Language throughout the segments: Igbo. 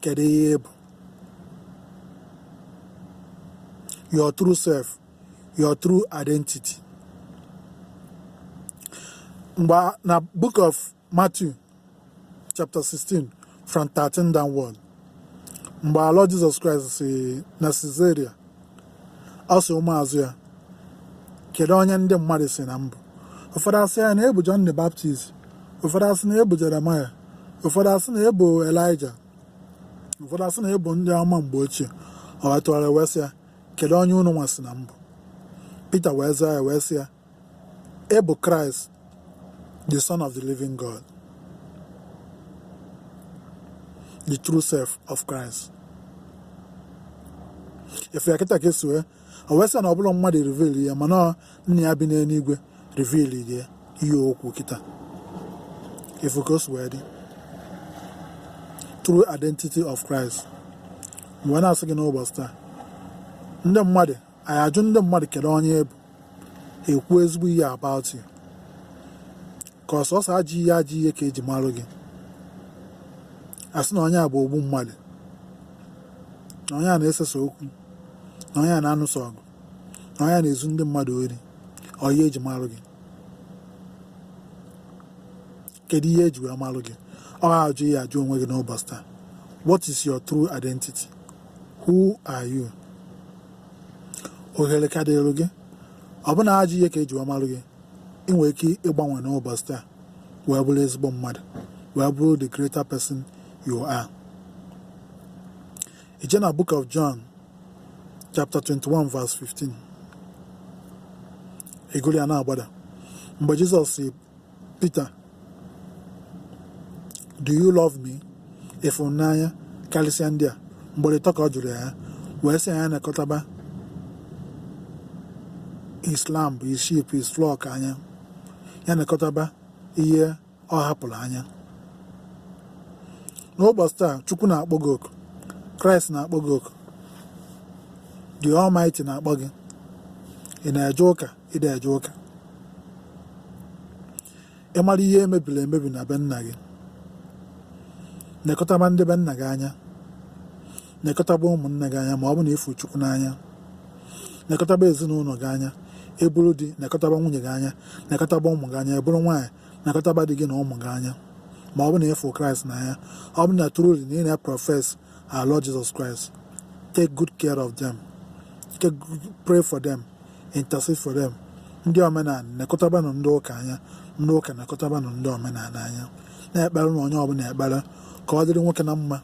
kedu ihe bụ your true self your true identity mgbe na book of Matthew chapter 16 from 13 downward mgbe our Lord Jesus Christ si na Caesarea ọ sị ụmụazụ ya kedu onye ndị mmadụ sị na m bụ ụfọdụ asị ya na ị bụ John the Baptist ụfọdụ asị na ị bụ Jeremaya ụfọdụ asị na ị bụ Elijah ụfọdụ asị na ị bụ ndị amụma mgbe ochie o wee tụgharịa wee sị ya kedu onye unu nwa sị na m bụ Pita wee zaa ya wee sị ya Ị bụ Christ, the Son of the Living God, the true self of Christ. Ị fụ ya kịta ka e si wee o wee sị na ọ bụrọ mmadụ reveal ya mana ọ nna ya bi n'eluigwe reveal ya ihe o kwu kịta ị fụ ka o si wee dị true identity of Christ m wee na-asị gị n'ụbọchị taa ndị mmadụ anyị ajụ ndị mmadụ kedu onye ị bụ ekwu ezigbo ihe about you ka ọ sọsọ ajọ ihe ajọ ihe ka eji marụ gị asị na onye a bụ ogbu mmadụ na onye a na-esesa okwu na onye a na-anụsa ọgụ na onye a na-ezu ndị mmadụ ori ọ ihe eji marụ gị kedu ihe eji wee marụ gị ọ ajọ ihe jụọ onwe gị n'ụbọchị taa what is your true identity who are you ohere ka dịrụ gị ọ bụ na ajọ ihe ka eji wee marụ gị ị nwere ike ịgbanwe n'ụbọchị taa wee bụrụ ezigbo mmadụ wee bụrụ the greater person you are i jee na book of John chapter 21 verse 15 ị gụlụ ya na-agbada mgbe Jizọs sị Pita do you love me ị fụ m n'anya karịsịa ndị a ugboro ịtọ ka ọ jụrụ ya wee sị ya nekọtaba his lamb his sheep his flock anya ya nekọtaba ihe ọ hapụrụ anya n'ụbọchị taa chukwu na-akpọ gị oku kraịst na-akpọ gị oku the almighty na-akpọ gị ị na-eje ụka ị dị eje ụka ị mara ihe mebiri emebi na be nna gị nekọtaba ndị be nna gị anya nekọtaba ụmụnna gị anya ma ọ bụ na ị fụ chukwu n'anya nekọtaba ezinụlọ gị anya ị bụrụ di nekọtaba nwunye gị anya nekọtaba ụmụ gị anya ị bụrụ nwaanyị nekọtaba di gị na ụmụ gị anya ma ọ bụ na ị fụ kraịst n'anya ọ bụ na truly na ị na-eprofess our Lord Jesus Christ. Take good care of them. Take, pray for them. Intercede for them. Ndị omenala nekọtabanụ ndị ụka anya ndị ụka nekọtabanụ ndị omenala anya na-ekpere na onye ọbụla ekpere ka ọ dịrị nwoke na mma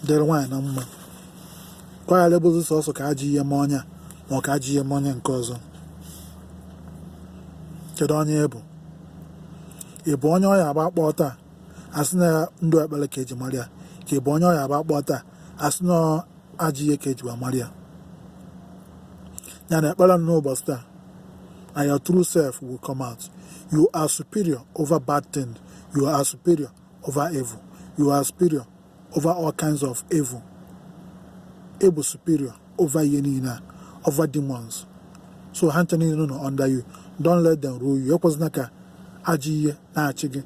dịrị nwaanyị na mma ka ọ ghara ịbụzi sọsọ ka ajọ ihe mee onye a ma ọ ka ajọ ihe mee onye nke ọzọ kedu onye ị bụ ị bụ onye ọ ya-abụ akpọọ taa asị na ndụ ekpere ka eji mara ya ka ị bụ onye ọ ya-abụ akpọọ taa asị na ajọ ihe ka eji wee mara ya ya na ekpere n'ụbọchị taa and your true self will come out you are superior over bad things you are superior over evil you are superior over all kinds of evil ị bụ superior over ihe niile a over demons so ha ncha niile nọ under you don let them rule you ekwezina ka ajọ ihe na-achị gị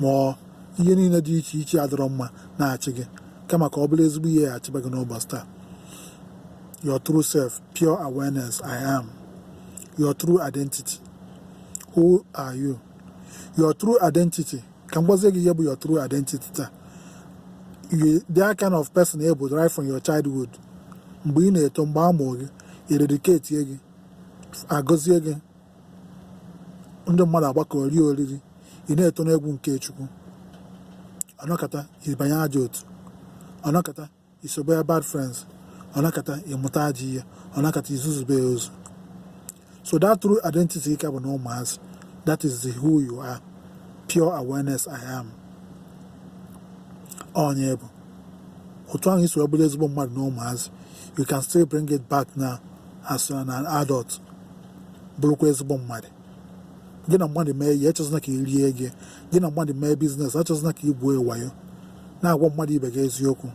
ma ọ ihe niile dị iche iche adịrọ mma na-achị gị kama ka ọ bụrụ ezigbo ihe ya-achịba gị n'ụbọchị taa your true self pure awareness i am your true identity who are you your true identity ka m gwazie gị ihe bụ your true identity taa you the kind of person ị bụ right from your childhood mgbe ị na-eto mgbe a mụọ gị e dedicatie gị agọzie gị ndị mmadụ agbakọ rie oriri ị na-eto n'egwu nke chukwu ọ nọkata ị banye ajọ otu ọ nọkata i sobe ya bad friends ọ nọkata ị mụta ajọ ihe ọ nọkata i zuzube ya ozu so that true identity ị ka bụ na ụmụazị that is the who you are pure awareness I am onye ị bụ otu ahụ i si bụrụ ezigbo mmadụ na ụmụazị you can still bring it back now as an adult bụrụkwa ezigbo mmadụ gị na mmadụ mee ihe achọzina ka i rie gị gị na mmadụ mee biznes achọzina ka i gwuo wayo na-agwa mmadụ ibe gị eziokwu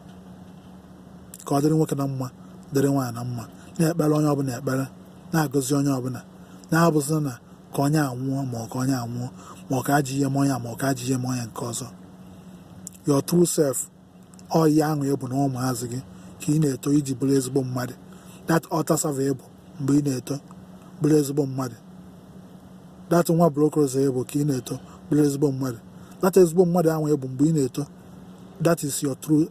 ka ọ dịrị nwoke na mma dịrị nwaanyị na mma na-ekpere onye ọbụla ekpere na-agọzi onye ọbụla na-abụzina na ka onye a nwụọ ma ọ ka onye a nwụọ ma ọ ka ajọ ihe mee onye a ma ọ ka ajọ ihe mee onye nke ọzọ your true self ọ ihe ahụ ị bụ na ụmụazị gị ka ị na-eto i ji bụrụ ezigbo mmadụ that altar server ị bụ mgbe ị na-eto bụrụ ezigbo mmadụ that nwa Block Rosary ị bụ ka ị na-eto bụrụ ezigbo mmadụ that ezigbo mmadụ ahụ ị bụ mgbe ị na-eto that is your true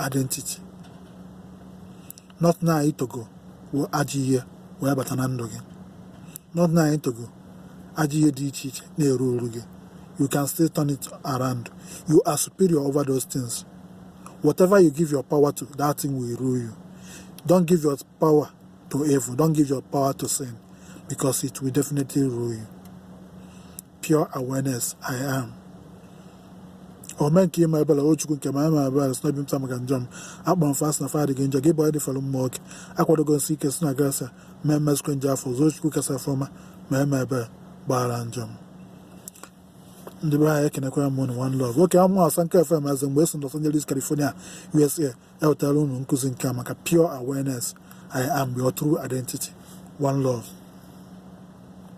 identity not na itogo wụ ajọ ihe wee bata na ndụ gị not na itogo ajọ ihe dị iche iche na-eru eru gị you can still turn it around you are superior over those things whatever you give your power to that thing will rule you don't give your power to evil don't give your power to sin because it will definitely rule you pure awareness i am ome nke ịma ebele o chukwu nke m ama m ebele si n'obi m taa maka njọ m akpọrọ m fa asị na fa dị gị njọ gị bụ onye dịfọrọ mma oke akwadogo m sie ike si na grasịa ma emezikwa njọ afụ ọzọ chukwu kasị afọma mee m ebere gbaghara njọ m ndị be anyị ekenekwara m unu one love oke amụ asa nke fm eze mgbe esi Los Angeles California USA ewetara unu nkụzi nke a maka pure awareness I am your true identity one love